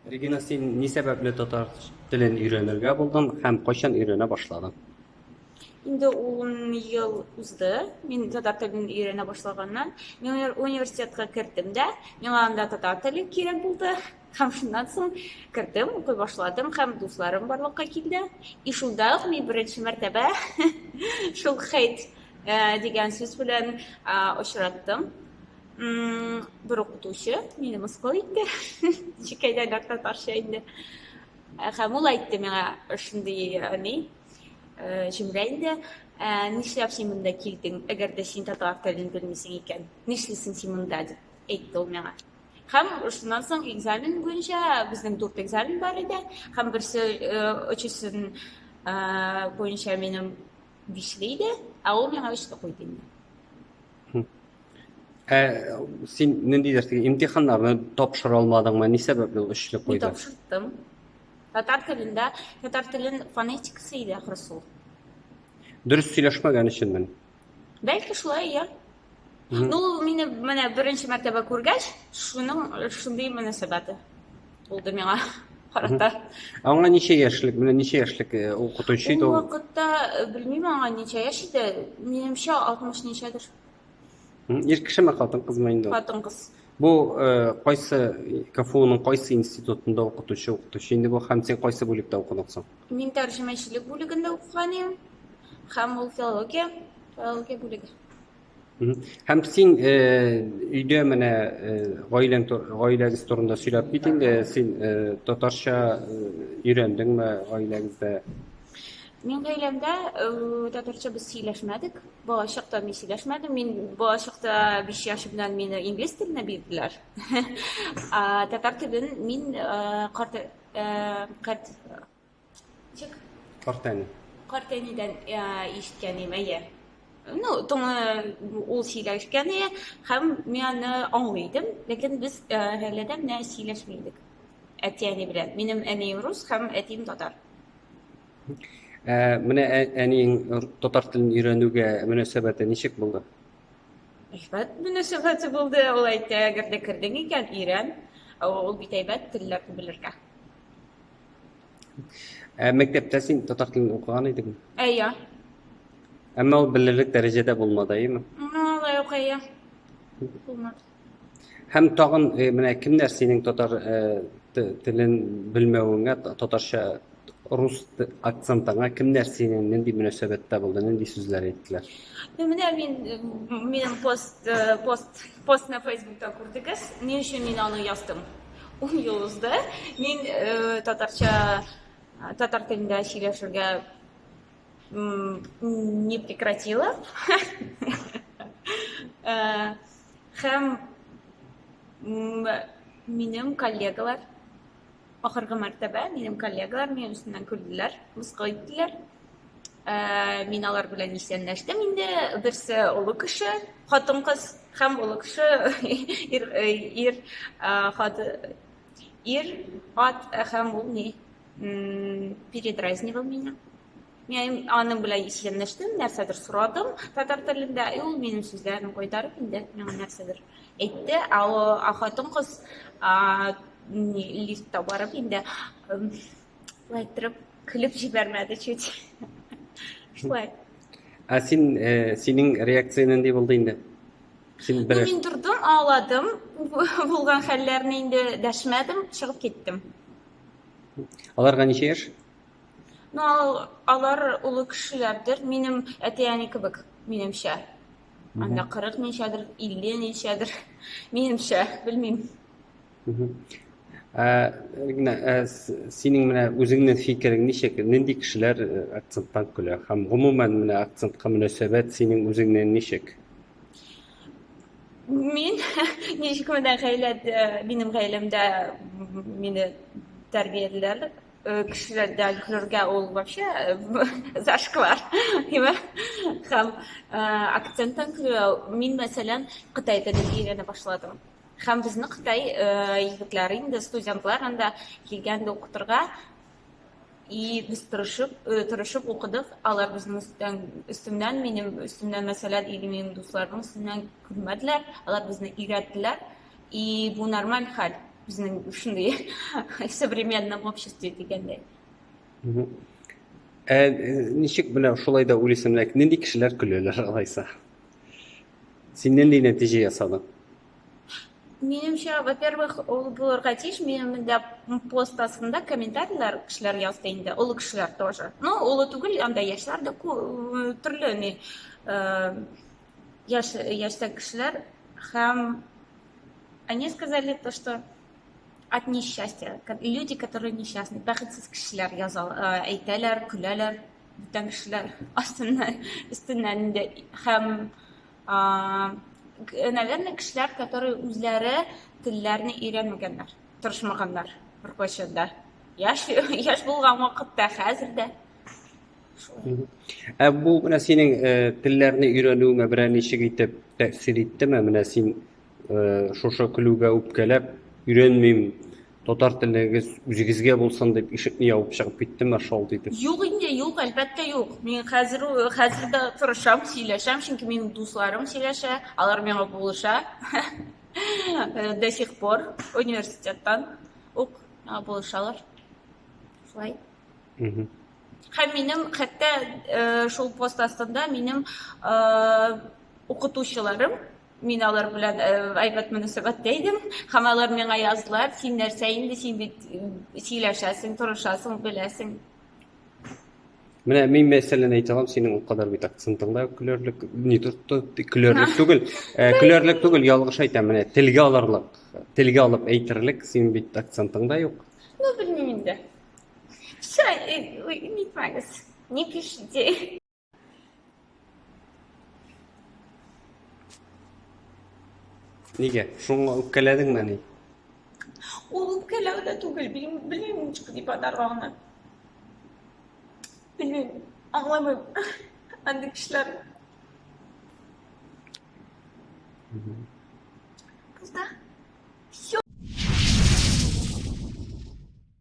Регина, син ни сәбәпле татар телен өйрәнергә булдың һәм кайчан өйрәнә башладың? Инде 10 ел узды. Мин татар телен өйрәнә башлаганнан. Мин университетка кердем дә, миңа анда татар теле кирәк булды. Һәм шуннан соң кердем, укый башладым һәм дусларым барлыкка килде. И шунда ук мин беренче мәртәбә шул хейт э, дигән сүз белән э, очраттым. бер укытучы мине мыскыл итте чикәйдән артта тарча инде һәм ул әйтте миңа шундый ни җөмлә инде нишләп син монда килдең әгәр дә син татар телен белмисең икән нишлисең син монда дип әйтте ул миңа һәм шуннан соң экзамен буенча безнең дүрт экзамен бар иде һәм берсе өчесен буенча минем бишле иде ә ул миңа өчле куйды инде Ә син нинди дәрсегә имтиханнарны тапшыра алмадыңмы? Ни сәбәпле ул өчле Мин куйды? тапшырттым. Татар телендә, татар телен фонетикасы иде ахры сул. Дөрес сөйләшмәгән өченмен. Бәлки шулай, я. Ну, ул мине менә беренче мәртәбә күргәч, шуның шундый мөнәсәбәте. булды миңа карата. Аңа ничә яшьлек, менә ничә яшьлек э, укытучы иде Ул ул? вакытта э, белмим аңа ничә яшь иде. Минемчә 60 ничәдер. М, Ир кешеме, хатын кызмы инде? ул? Хатын кыз. Бу э, кайсы КФУның кайсы институтында укытучы укытучы инде бу һәм син кайсы бүлектә укыдың соң? Мин тәрҗемәчелек бүлегендә укыган идем. Һәм ул филология, филология бүлеге. Һәм син э, өйдә менә э, гаиләң гаиләгез турында сөйләп кит инде. Син э, татарча өйрәндеңме гаиләгездә? Мин гаиләмдә татарча без сөйләшмәдек. Балачакта мин сөйләшмәдем. Мин балачакта 5 яшь белән мине инглиз теленә бирделәр. Татар телен мин карт карт Чик. Картәни. Картәнидән ишеткән идем, әйе. Ну, тоны ул сөйләшкән иде һәм мин аны аңлый идем, ләкин без гаиләдә менә сөйләшми идек. Әти-әни белән. Минем әнием рус һәм әтием татар. Ә, менә әниең татар телен өйрәнүгә мөнәсәбәте ничек булды? Әйбәт мөнәсәбәте булды, ул әйтә, әгәр дә кердең икән, өйрән. Ул бит әйбәт телләрне белергә. Ә мәктәптә син татар телен укыган идеңме? Әйе. Әмма ул белерлек дәрәҗәдә булмады, әйеме? Алай ук әйе. Булмады. Һәм тагын э, менә кемнәр синең татар э, телен белмәвеңә, татарча рус акцентыңа кемнәр синең нинди мөнәсәбәттә булды, нинди сүзләр әйттеләр? Ну, менә мин э, минем пост пост постны Facebook'та күрдегез. Ни өчен мин аны яздым? Ун ел узды. Мин татарча, татар телендә сөйләшергә не прекратила. Хәм минем коллегалар, ахыргы мәртәбә минем коллегалар минем өстеннән көлделәр, мыскыл иттеләр. Мин алар белән исәнләштем инде. Берсе олы кеше, хатын-кыз һәм олы кеше ир ир хат ир ат һәм ул ни передразнивал меня. Мин аның белән исәнләштем, нәрсәдер сорадым татар телендә, и ул минем сүзләрне кайтарып инде миңа нәрсәдер әйтте. Ә о хатын-кыз лифтта барып инде Шулай иттереп, көлеп җибәрмәде чуть. Шулай. Ә син, э, синең реакция нинди булды инде? Син бер... Мин тордым, ауладым. Булган хәлләрне инде дәшмәдем, чыгып киттем. Аларга ничә яшь? Ну, алар улы кешеләрдер. Минем әти-әни кебек, минемчә. Анда 40 ничәдер, 50 ничәдер. Минемчә, белмим. Ә, генә, ә, синең менә үзеңнең фикерең ничек? Нинди кешеләр акценттан көлә? Һәм гомумән менә акцентка мөнәсәбәт синең үзеңнең ничек? Мин ничек менә гаилә минем гаиләмдә мине тәрбиялиләр кешеләрдә көлергә ул вообще зашквар димә һәм акценттан көлү мин мәсәлән кытай телен өйрәнә башладым Һәм безнең Кытай егетләре инде студентлар анда килгәндә укытырга и без тырышып, э, тырышып укыдык. Алар безнең өстән, өстемнән, минем өстемнән, мәсәлән, или минем дусларның өстеннән күрмәделәр. Алар безне өйрәттеләр. И бу нормаль хәл безнең шундый современном обществе дигәндәй. Ә э, ничек менә шулай да уйлыйсың, нинди кешеләр көләләр алайса? Син нинди нәтиҗә ясадың? Минемчә, во-первых, ул булырга тиеш. Минем дә пост астында комментарийлар кешеләр язды инде, олы кешеләр тоже. Ну, олы түгел, анда яшьләр дә э, төрле ни э, яшь яшьтә кешеләр һәм они сказали то, что от несчастья, люди, которые несчастны, бәхетсез кешеләр язал, э, әйтәләр, көләләр. бүтән кешеләр астыннан өстеннән инде һәм наверное кешеләр которые үзләре телләрне өйрәнмәгәннәр тырышмаганнар беркайчан да яшь яшь булган вакытта хәзер дә ә бу менә синең э, телләрне өйрәнүеңә берәр ничек итеп тәэсир иттеме менә син Э, шушы көлүгә үпкәләп өйрәнмим татар телегез үзегезгә булсын дип ишекне ябып чыгып киттем шалт итеп юк инде юк әлбәттә юк мин хәзер хәзер дә тырышам сөйләшәм чөнки минем дусларым сөйләшә алар миңа булыша э, до сих пор университеттан ук булышалар шулай һәм минем хәтта э, шул пост астында минем укытучыларым Мин алар белән әйбәт мөнәсәбәттә идем, һәм алар миңа яздылар, син нәрсә инде, син бит сөйләшәсең, торышасың, беләсең. Менә мин мәсәлән әйтә алам, синең ул кадәр бит акцентыңда көләрлек, не тотты, көләрлек түгел. Э, көләрлек түгел, ялгыш әйтәм, менә телгә алырлык, телгә алып әйтерлек, син бит акцентыңда юк. Ну, белмим инде. Все, э, не парьтесь, не пишите. Нигә? Шуңа үпкәләдеңме ни? Ул үпкәләү дә түгел, белмим, белмим ничек дип атарга аны. Белмим, аңламыйм. Андый кешеләр. Кызда.